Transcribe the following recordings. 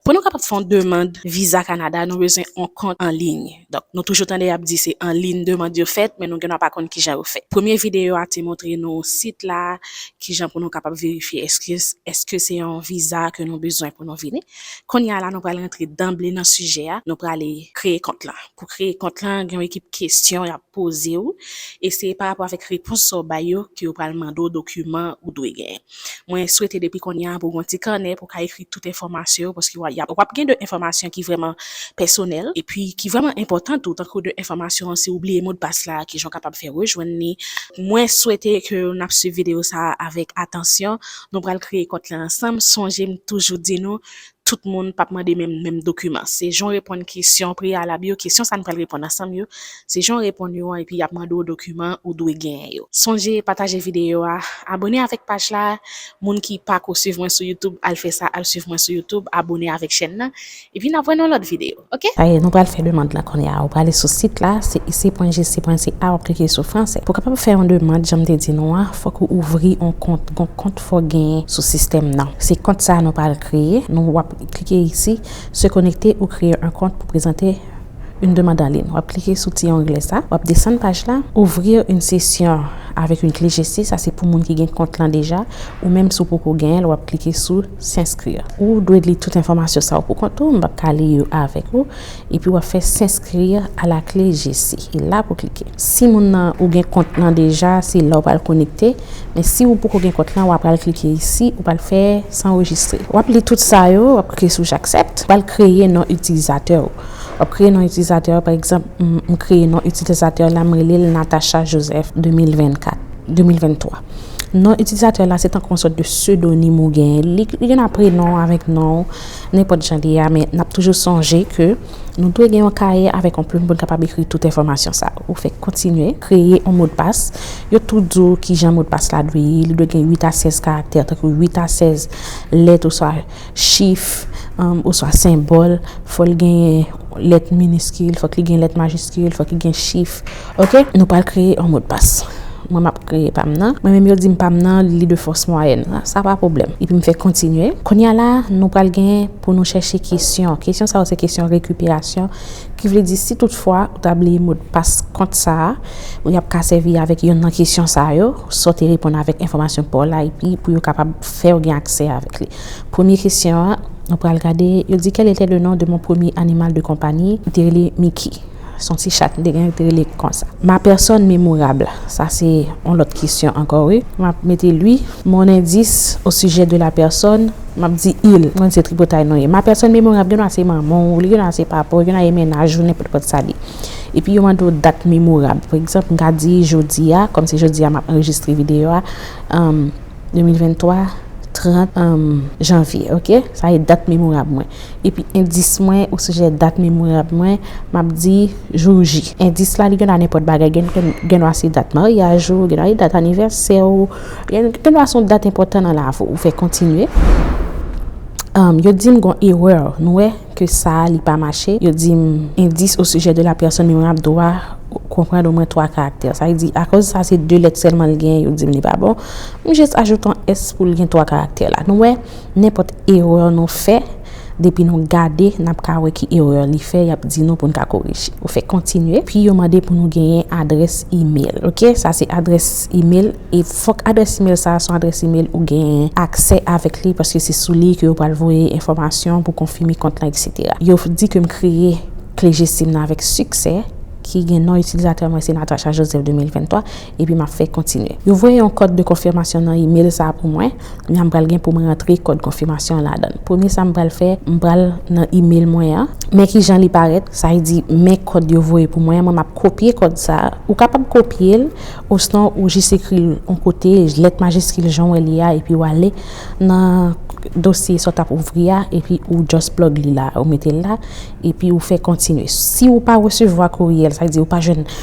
Pou nou kapab fè yon demand viza Kanada nou bezwen yon kont anliy. Donk nou toujou tande yap di se anliy demand yo fèt men nou genwa pa konn kijan yo fèt. Premye videyo a te montre nou sit la kijan pou nou kapab verifye eske eske se yon viza ke nou bezwen pou nou vini. Kounye a la nou pral rantre danble nan sijè a nou prale kreye kont lan. Pou kreye kont lan gen yon ekip kesyon yap pozew e se parapò avèk repons sa w bay yo ke yo pral mande w dokiman ou dwe genyen. Mwen swete depi kounye a pou w gen yon ti kanè pou w ka ekri tout enfòmasyon yo paske w ap gen de enfòmasyon ki vrèman pèsonèl epi ki vrèman enpòtan tou tankou de enfòmasyon an si w bliye modpas la ki jan w kapab fè rejwenn li. Mwen swete ke n ap swiv videyo sa a avèk atansyon. Nou pral kreye kont lan ansanm. Sonje m toujou di nou Tout moun pap mande menm menm dokiman. Se jan w reponn kesyon preyalab yo, kesyon sa n pral reponn ansanm yo, se jan w reponn yo an epi y ap mande w dokiman ou dwe genyen yo. Sonje pataje videyo a, abone avèk paj la, moun ki pako swiv mwen sou youtube al fè sa al swiv mwen sou youtube, abone avèk chèn nan, epi n ap wè nan lòt videyo. ok. Sa ye, nou pral fè demand la kounye a. Ou prale sou sit la, se ici.gc.ca wap klike sou fransè. Pou kapab fè yon demand janm te di nou an, fòk ou ouvri yon kont. Gon kont fòw genyen sou sistèm nan. Se kont sa nou pral kreye. Nou wap klike isi, se konekte ou kreye yon kont pou prezante yon demand an lin. Wap klike sou ti ongle sa, wap desann paj la, ouvrir une session avec une clé gc, sa se pou moun ki gen kont lan deja, ou menm si w poko genyen l wap klike sou. S'inscrire. Ou dwe li tout enfòmasyon sa yo pou kont ou, m pap ka li yo avèk ou, epi wap fè S'inscrire à la clé GC. E la pou klike. Si moun nan ou gen kont nan deja, se la ou pral konekte, men si ou poko gen kont lan, wa pral klike isi, ou pral fè S'enregistrer. Wap li tout sa yo, wap klike sou J'accepte. Ou pral kreye non itilizatè ou. Wap kreye non itilizatè ou, pa egzanp, m kreye non itilizatè la, m rele l Natacha Joseph 2024, 2023. Non itilizatè w la se tankou yon sòt de sedonim ou gen. Li gen nan prenon w avèk non w, nenpòt jan li ye a, men n ap toujou sonje ke nou dwe gen yon kaye avèk yon plim pou n kapab ekri tout enfòmasyon sa yo. Ou fèk kontinye, kreye yon modpas. Yo tou di w kijan modpas la dwe ye. Li dwe gen 8 a 16 karaktè, tankou 8 a 16 lèt oswa. chif, oswa senbòl, fò l genyen lèt miniskil, fòk li gen lèt majiskil, fòk li gen chif, ok. Nou pral kreye yon modpas. Mwen m ap kreye pa m nan. Mwen menm yo di m pa m nan li de fòs mwayèn. Sa pa pwoblèm. Epi m fè kontinye. Kounye a la, nou pral gen pou nou chèche kesyon. Kesyon sa yo se kesyon rekiperasyon. Ki vle di si tout fwa ou ta bliye modpas kont sa a, ou y ap ka sèvi avèk yonn nan kesyon sa yo. Sa w te reponn avèk enfòmasyon pa w la epi pou yo kapab. Fè yo gen aksè avèk li. Premye kesyon an, nou pral gade, yo di Quel était le nom de mon premier animal de compagnie? Li te rele Miki. Se yon ti chat m te gen, yo te rele l konsa. Ma personne mémorable, sa se yon lòt kesyon ankò wi. M ap mete lui. Mon indice au sujet de la personne, m ap di il. M konn se tripotay nou ye. Ma personne mémorable gen dwa se manman w, li gen dwa se papa w, li gen dwa se mennaj ou, nenpòt kòt sa li. Epi yo mande w dat memorab. Pa egzanp, m ka di jodi a, kòm se jodi a m ap anrejistre videyo a, 2023 30 janvier ok sa e dat memorab mwen epi endis mwen osijè dat memorab mwen map di jou ji endis la li gen dwa nenpòt bagay gen gen dwa se dat maryaj ou gen dwa se dat anivèsè ou gen gen dwa son dat enpòtan nan lavi ou fè kontinye yo dim gon erè nou wè ke sa li pa mache yo dim endis osijè de la pèsòn memorab dwa konprann omwen 3 karaktè sa vle di akoz sa se 2 lèt sèlman li gen yo dim li pa bon M jis ajoute yon s pou l gen 3 karaktè la. Nou wè, nenpòt erè nou fè, depi nou gade, n ap ka wè ki erè li fè, y ap di nou pou n ka korije. Ou fè Kontinye, pi yo mande pou nou genyen adrès imel. Ok, sa se adrès imel, e fòk adrès imel sa a se yon adrès imel ou genyen aksè avèk li, paske se sou li ke yo pral voye enfòmasyon pou konfime kont lan eksetera. Yo di ke m kreye kle GSIM nan avèk siksè, ki gen non itilizatè mwen se Natacha Joseph 2023, epi m ap fè Kontinye. Yo voye yon kòd de konfimasyon nan imel sa a pou mwen, epi m pral gen pou m rantre kòd konfimasyon an ladan l. Premye sa m pral fè, m pral nan imel mwen an, men ki jan li parèt, sa vle di men kòd yo voye pou mwen an, mwen m ap kopye kòd sa a, ou kapab kopye l, osnon ou jis ekri l yon kote, lèt majiskil jan w wè li a, epi w ale nan dosye sa w t ap ouvri a, epi ou just plug li la, ou mete l la, epi ou fè Kontinye. Si ou pa resevwa kourye l, sa vle di ou pa jwenn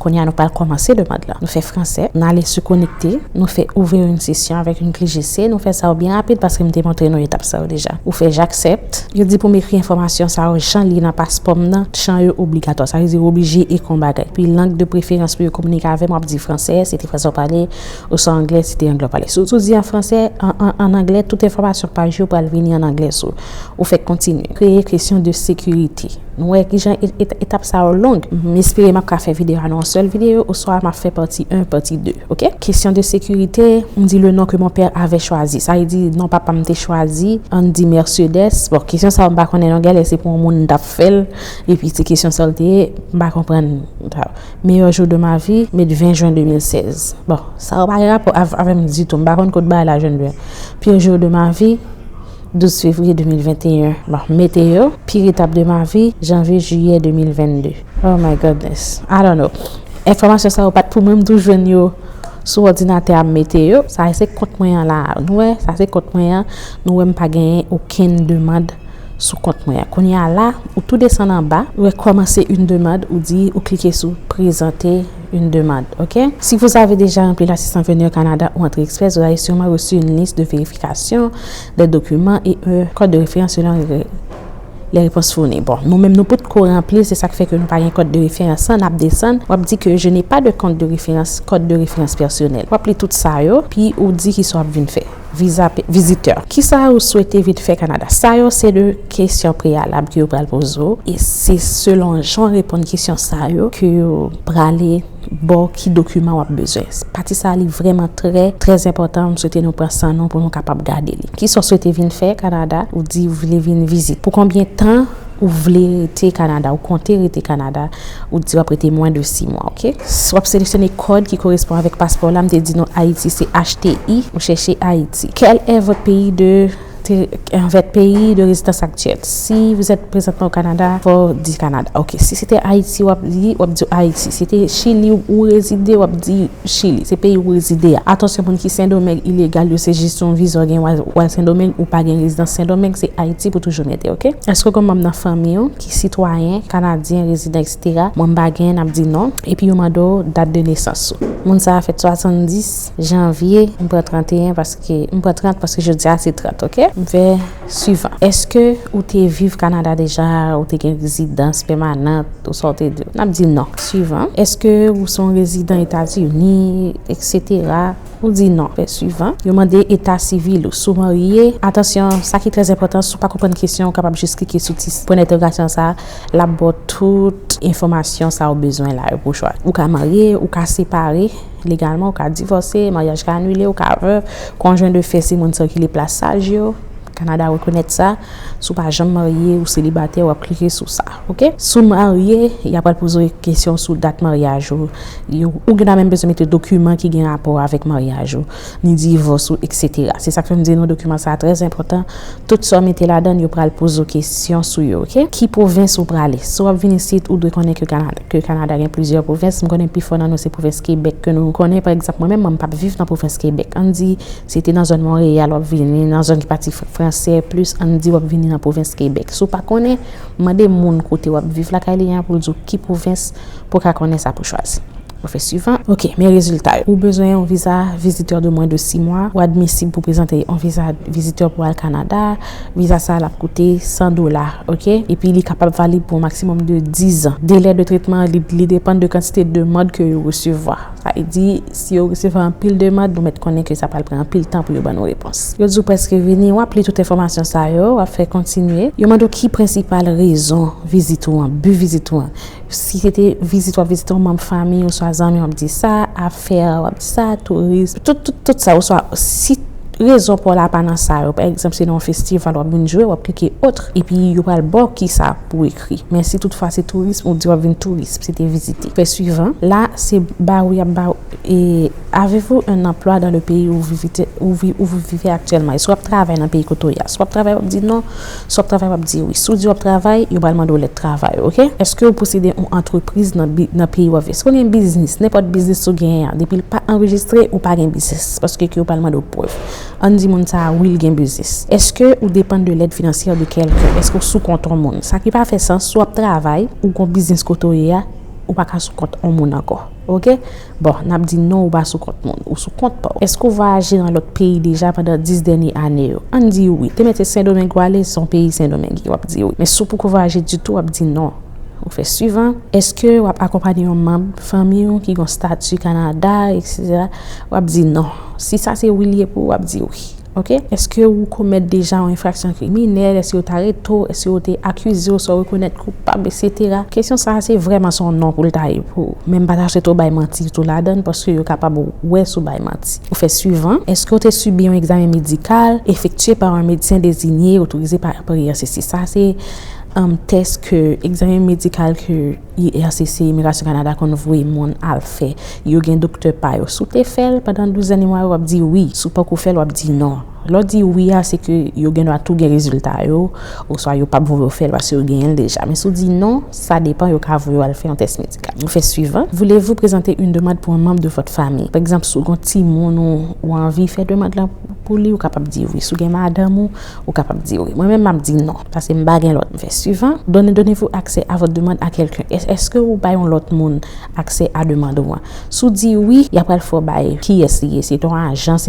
Kounye a nou pral kòmanse demand lan. Nou fè fransè, nou ale sou konekte, nou fè ouvrir une session avec une clé GC, nou fè sa yo byen rapid paske m te montre nou etap sa yo deja. Ou fè j'accepte, yo di pou m ekri enfòmasyon sa yo jan li nan paspò m nan, chan yo obligatwa, sa vle di ou oblije ekri yon bagay. Pi lang de preferans pou yo kominike avè m, w ap di fransè, se te fransè w pale, Ou sou anglè si te anglè w pale sou sou di an fransè an anglè tout enfòmasyon paj yo pral vini an anglè sou ou fèk kontinye kreye kesyon de sekirite nou wè kijan etap sa yo long m espere map ka fè videyo a nan yon sèl videyo oswa map fè pati 1 pati 2 ok kesyon de sekirite m di le non ke mon père avè chwazi sa vle di non papa m te chwazi ann di Mercedes bon kesyon sa yo m pa konnen non gèlè se pou yon moun m tap fèl epi se kesyon sa yo l te ye m pa konprann Meilleur jour de ma vie met 20 juin 2016 bon sa pa gen rapò avèm ditou m pa konn kot bagay la jwenn vre pire jour de ma vie 12 février 2021 bon mete yo pire étape de ma vie janvier juillet 2022 oh my goodness I don't know enfòmasyon sa yo pat pou mwen m tou jwenn yo sou òdinatè a m mete yo sa se kont mwen an la nou wè sa se kont mwen an nou wè m pa genyen okenn demand. sou kont mwen an. Kounye a la, ou tou desann anba, ou wè kòmanse une demande, ou di ou klike sou prezante une demande ok. Si vous avez déjà rempli l'assistance Venir au Canada ou Entrée Express, vous avez sûrement reçu une liste de vérification des documents et un code de référence selon les réponses fournies. Bon, nou menm nou pot ko ranpli l, se sa k fè ke nou pa gen kòd de referans lan, n ap desann, w ap di ke je n'ai pas de compte de référence, code de référence personnel. W ap li tout sa yo, pi ou di ki sa w ap vin fè. Viza vizitè. Kisa ou swete vin fè Kanada? Sa yo se de kesyon preyalab ke yo pral poze w e se selon jan w reponn kesyon sa yo ke yo prale ba w ki dokiman w ap bezwen. Pati sa li vrèman trè, trè enpòtan. M swete nou pran san nou pou nou kapab gade li. Kisa w swete vin fè Kanada? Ou di ou vle vin vizit. Pou konbyen tan? Ou vle rete Kanada, ou konte rete Kanada, ou di w ap rete mwen de 6 mwa ok. W ap seleksyone kòd ki korespon avèk paspò w la, m te di nou Ayiti se HTI, ou chèche Ayiti. Kèl è vòt peyi de vèt peyi de rezidans aktyèl, si vouzèt prezantman o Kanada, fò w di Kanada ok. Si se te Ayiti w ap li, w ap di Ayiti. Si te chili ou rezide wap di chili se peyi ou rezide a atansyon moun ki sendomeng ilegal yo se jis yon viza ou gen ou al sendomeng ou pa gen rezidans sendomeng se ayiti pou toujou mete ok eske ou gen manm nan fanmi ou ki sitwayen kanadyen rezidan etc moun pa gen nap di non epi yo mande w dat de nesans ou moun sa fèt 70 janvye m pran 31 paske m pran 30 paske jodia se 30 ok m fè. Suivant. Eske ou te viv Kanada deja, ou te gen rezidans pèmanant, ou sa ou te di? N ap di non. Suivant. Eske ou se yon rezidan Etazini, eksetera? Ou di non. Fè suivant. Yo mande eta sivil ou. Si w marye, atansyon, sa ki trè enpòtan, si w pa konprann kesyon an, ou kapab jis klike sou ti pwen dentèrogasyon sa a, l ap ba w tout enfòmasyon sa ou bezwen la yo pou w chwazi. Ou ka marye, ou ka separe. Legalman ou ka divòse, maryaj ka anile, ou ka vèv, konjwen de fè si moun sikile plas saj yo, Kanada rekonèt sa, si w pa janm marye ou selibatè wap klike sou sa ok. Si w marye, ya pral poze w kesyon sou dat maryaj ou, ou gen dwa menm bezwen mete dokiman ki gen rapò avèk maryaj ou. ni divòs ou eksetera. Se sa k fè m di nou dokiman sa a trè enpòtan. Tout sa w mete ladan l, yo pral poze w kesyon sou yo, oke. Ki pwovens ou prale? Si w ap vin isit, ou dwe konnen ke Kanada, ke Kanada gen plizyè pwovens. M konnen pi fò nan nou se pwovens Kebèk ke nou konnen. Pa egzanp, mwen menm, mwen m pa p viv nan pwovens Kebèk. Ann di, si te nan zòn Monreyal, w ap vini nan zòn ki pati fransè plis, ann di w ap vini nan pwovens Kebèk. Si w pa konnen, mande moun kote w ap viv lakay li an pou l di w ki pwovens pou w ka konnen sa pou w chwazi. Ou fè suivant. Ok, men rezilta yo. Ou bezwen yon viza vizitè de mwen de 6 mwa. Ou admisib pou prezante yon viza vizitè pou al Kanada. Viza sa a l ap koute 100 dola, ok. Epi li kapab valib pou yon maksimòm de 10 an. Delè de tretman li depann de kantite demand ke yo resevwa. Sa vle di, si yo resevwa anpil demand, nou mèt konnen ke sa pral pran anpil tan pou yo ban nou repons. Yo di w prèske vini, w ap li tout enfòmasyon sa yo, w ap fè kontinye. Yo mande w ki prensipal rezon vizit ou an, bi vizit ou an. Si se te vizit w ap vizite yon manm fanmi oswa zanmi w ap di sa, afè w ap di sa, tourism, tout tout tout sa oswa si rezon pa w la pa nan sa yo, pa egzanp se nan yon festival w ap vin jwe w ap klike autre epi yo pral ba w kisa pou w ekri. Men si tout fwa se tourism ou di w ap vin tourism, se te vizite. Fè suivan, la se ba w y ap ba w e Avez-vous un emploi dans le pays où vous vivez actuellement? Èske w ap travay nan peyi kote w ye a? Si w ap travay w ap di non. Si w ap travay w ap di wi. Si w di w ap travay, yo pral mande w lèt travay ou ok. Eske ou posede yon antrepriz nan peyi w ap viv. Eske w gen biznis, nenpòt biznis ou genyen an depi l pa anrejistre ou pa gen biznis paske ke yo pral mande w prèv. Ann di moun sa a wi l gen biznis. Eske ou depann de lèd finansyè de kèlken. Eske w sou kont yon moun. Sa ki pa fè sans, si w ap travay, ou gen yon biznis kote w ye a, ou pa ka sou kont yon moun ankò ok. Bon, n ap di non ou pa sou kont moun, ou sou kont pa w. Èske ou vwayaje nan lòt peyi deja pandan 10 dènye ane yo? Ann di wi. Te mete Sendomeng ou ale, se yon peyi Sendomenge, w ap di wi. Men si w poko vwayaje ditou, w ap di non. Ou fè suivan, Èske w ap akonpanye yon manb fanmi ou ki gen yon stati Kanada, eksetera? W ap di non. Si sa se wi li ye pou ou, w ap di wi. Ok. Eske ou komèt deja yon enfraksyon kriminèl, eske yo ta rete w, eske yo te akize w, eske w rekonèt koupab, eksetera. Kesyon sa a se vrèman se yon non pou l ta ye pou ou. Men m pa ta swete w bay manti ditou ladan l paske yo kapab wè si w bay manti. Ou fè suivan, Eske w te sibi yon egzamen medikal efektye pa yon medsen dezinye, otorize pa anperyen? Se si sa se, Tès ke, egzamen medikal ke. IRCC, Imigrasyon Kanada konn voye moun al fè. Yo gen doktè pa yo. Si w te fè l, pandan 12 dènye mwa yo, w ap di wi. Si w poko fè l, w ap di non. Lè w di wi a, se ke yo gen dwa tou gen rezilta yo, oswa yo pap voye w fè l paske yo genyen l deja. Men si w di non, sa depan, yo ka voye w al fè yon tès medikal. Nou fè suivant, Voulez-vous présenter une demande pour un membre de votre famille? Pa egzanp, si w gen yon timoun ou anvi fè demand lan. Pou li ou kapab di wi. Si w gen madanm ou, ou kapab di wi. Mwen menm m ap di non. Paske m pa gen lòt. M fè suivant. Donne donnez-vous accès à votre demande à quelqu'un? Èske ou bay yon lòt moun aksè a demand ou an? Si w di wi, y a pral fè w bay kiyès li ye. Se ton ajans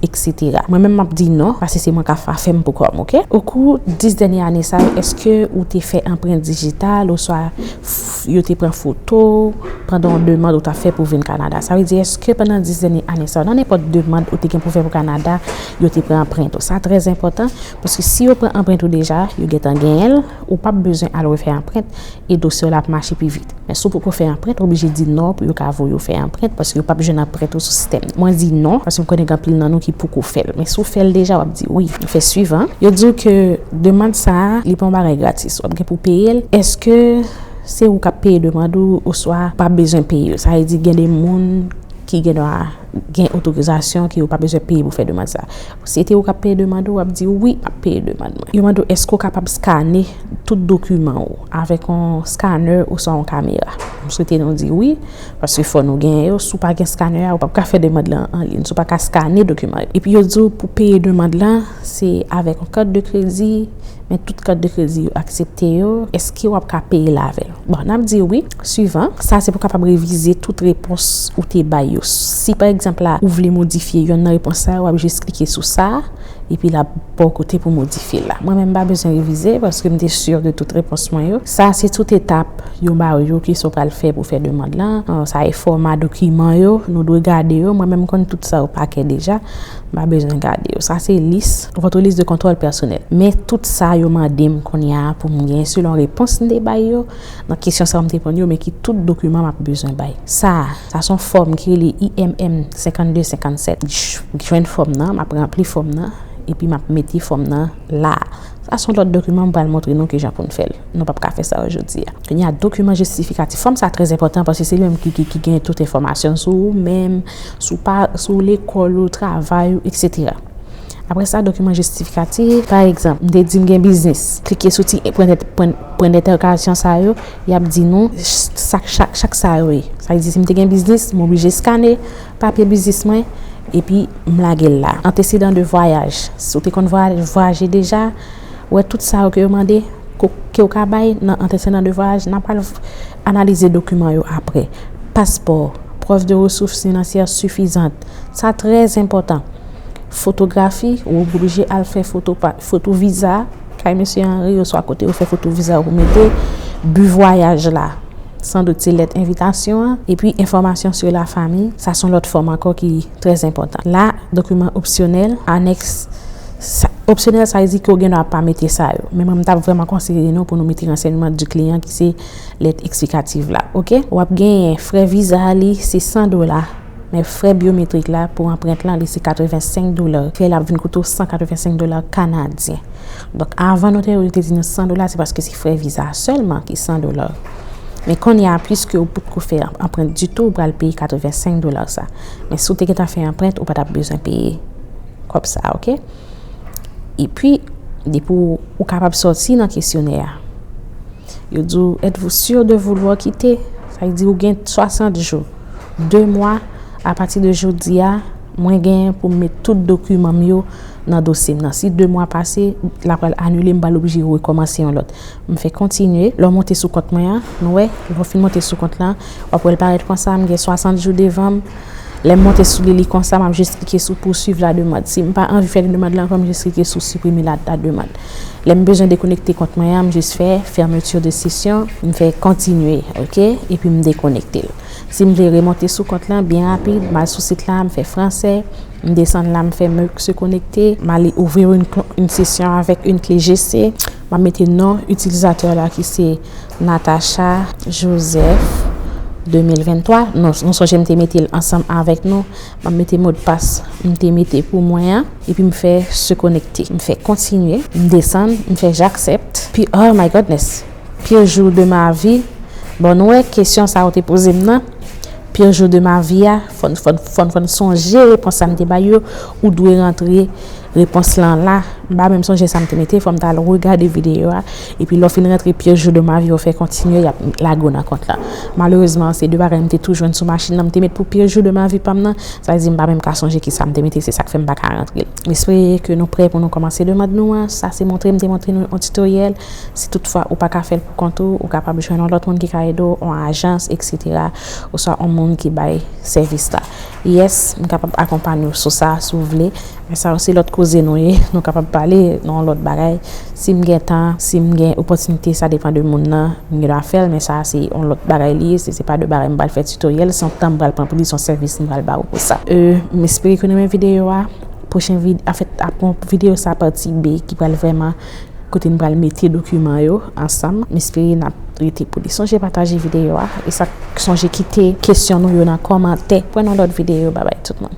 eksetera. Mwen menm m ap di non. Paske se mwen k ap fa fè m pou kò m. Ok? Okou 10 dènye ane sa yo, èske ou te fè anprent dijital oswa Yo te pran foto w pandan yon demand ou ta fè pou vin Kanada. Sa vle di eske pandan 10 dènye ane sa yo, nan nenpòt demand ou te gen pou fè pou Kanada, yo te pran anprent ou. Sa trè enpòtan, paske si yo pran anprent ou deja, yo gentan genyen l, ou pap bezwen al refè anprent, e dosye w la ap mache pi vit. Men si w poko fè anprent, ou oblije di non pou yo ka voye w fè anprent, paske yo pap jwenn anprent ou sou sistèm nan. Mwen di non, paske m konnen gen anpil nan nou ki poko fè l. Men si w fè l deja, w ap di wi. Fè swivan, yo di w ke demand sa a, li pa yon bagay gratis. Si w ap gen pou w peye l, èske se ou k ap peye demand ou oswa ou pa bezwen peye l? Sa vle di gen de moun ki gen dwa gen otorizasyon ke yo pa bezwen peye pou fè demand sa. Si se te ou k ap peye demand ou, w ap di, Wi, m ap peye demand mwen. Yo mande w èske ou kapab skane tout dokiman ou avèk yon skanè oswa yon kamera. M swete nou di wi, paske fò nou genyen yo. Si w pa gen skanè a, ou p ap ka fè demand lan anliy. Si w pa ka skane dokiman yo. Epi yo di w pou peye demand lan. Se avèk yon kat de kredi, men tout kat de kredi yo aksepte yo, èske w ap ka peye l avè l? Bon, n ap di wi, suivan. Sa se pou w kapab revize tout repons ou te bay yo. Si pa egzanp la, ou vle modifye yonn nan repons sa yo, w ap jis klike sou sa, epi l ap ba w kote pou w modifye l la. Mwen menm m pa bezwen revize, paske m te sur de tout repons mwen yo. Sa se tout etap yo ba w yo, kisa w pral fè pou fè demand lan, sa e fòma dokiman yo, nou dwe gade yo, mwen menm m konn tout sa yo pa kè deja. M pa bezwen gade yo. Sa se lis, votre liste de contrôle personnel. Men tout sa yo mande m kounye a pou m gen selon repons m te bay yo nan kesyon sa yo m te reponn yo men ki tout dokiman m ap bezwen bay. Sa a, sa s on fòm ki rele IMM 52 57. Jwenn fòm nan, m ap ranpli fòm nan epi m ap mete fòm nan la a. Sa son lòt dokiman m pral montre nou kijan pou n fè l. Nou pap ka fè sa ojodi a. Kounye a dokiman jistifikatif fòm sa trè enpòtan paske se li menm ki ki gen tout enfòmasyon sou ou menm, sou pa sou lekòl ou, travay ou eksetera. Aprè sa dokiman jistifikatif, pa egzanp, m te di m gen biznis. Klike sou ti pwen pwen pwen dentèkasyon sa yo, y ap di nou sa chak chak sa yo ye. Sa vle di si m te gen biznis, m oblije eskane Papye biznis mwen epi m lage l la. Antesedan de vwayaj, si w te konn vwayaje deja, wè tout sa yo ke yo mande ke w ka bay nan antesedan de vwayaj, nan pral analize dokiman yo apre. Paspò, prèv de resouf finansyè sifizant, sa trè enpòtan. Fotografi, ou oblije al fè foto viza kay Mesye Henry oswa kote yo fè foto viza yo mete bi vwayaj la. San dout se lèt envitasyon an epi enfòmasyon sou la fami, sa son lòt fòm ankò ki trè zenpòtan. La, dokiman opsyonèl, anèks, sa, opsyonèl sa vle di ke ou gen dwa pa mete sa yo, men mwen m tap vrèman konseye nou pou nou mete rensèyman di kliyan ki se lèt eksplikativ la, ok. W ap genyen frè viza a li se 100 dola, men frè byometrik la pou anprent lan li se 85 dola, fè l ap vin koute w 185 dola kanadyen. Donk avan notè yo te di nou 100 dola se paske se frè viza a sèlman ki 100 dola. Men kounye a piske ou potko fè anprent ditou ou pral peye 85 dola sa. Men si w te gentan fè anprent ou pa tap bezwen peye kòb sa ok. Epi depi ou kapab sòti nan kesyonè a yo di w èt vou sur de vouloir quitter sa vle di ou gen 60 jou 2 mwa apati de jodi a. Mwen gen pou m met tout dokiman m yo nan dosye m nan. Si 2 mwa pase, l ap pral anile, m pral oblije rekòmanse yon lòt. M fè kontinye. Lè w monte sou kont mwen an, nou wè, lè w fin monte sou kont lan, w ap wè l parèt konsa, m gen 60 jou devan m. Lè m monte sou li, li konsa, m ap jis klike sou poursuivre la demande. Si m pa anvi fè demande lan ankò, m jis klike sou supprimer la demande. Lè m bezwen dekonekte kont mwen an, m jis fè fermeture de session, m fè kontinye, ok, epi m dekonekte l. Si m vle remonte sou kont lan byen rapid, m al sou sit la, m fè franse, m desann la, m fè meuc se konekte, m ale ouvrir une con une session avec une cle GC, m ap mete non itilizatè la ki se Natacha Joseph 2023, non nou sonje m te mete l ansanm avèk nou, m ap mete modpas m te mete pou mwen an, epi m fè se konekte, m fè kontinye, m desann, m fè j'accepte, epi oh my Godness! Pire jour de ma vie bon nou wè kesyon sa ou te poze m nan pire jour de ma vie a fò n fò n fò n sonje repons sa m te bay yo ou dwe rantre repons lan la m pa menm sonje sa m te mete fò m ta al regade videyo a epi lè w fin rantre pire jour de ma vie ou fè kontinye y ap lage w nan kont la malerezman se 2 bagay m te tou jwenn sou machin nan m te met pou pire jour de ma vie pa m nan sa vle di m pa menm ka sonje kisa m te mete se sa k fè m pa ka rantre l m espere ke nou prè pou nou kòmanse demand nou an sa se montre m te montre nou yon titoryèl. Si toutfwa ou pa ka fè l pou kont ou, ou kapab jwenn yon lòt moun ki ka ede w, yon ajans, eksetera, oswa yon moun ki bay sèvis la. Yès, m kapab akonpanye w sou sa, si w vle. Men sa yo se lòt koze nou ye. Nou kapab pale nan yon lòt bagay. Si m gen tan, si m gen opòtinite, sa depan de moun nan, m gen dwa fè l, men sa a se yon lòt bagay li ye. Se se pa de bagay m pral fè tutoriel, se yon tan m pral pran pou li, se yon sèvis m pral ba ou pou sa. M espere ke w renmen videyo a. Pwochen videyo, anfèt, apre videyo sa a, pati 2, ki pral vrèman Kote n pral mete dokiman yo ansanm m espere nap rete pou li sonje pataje videyo a esak sonje kite kesyon nou yo nan kòmantè pwen nan lòt videyo babay tout moun.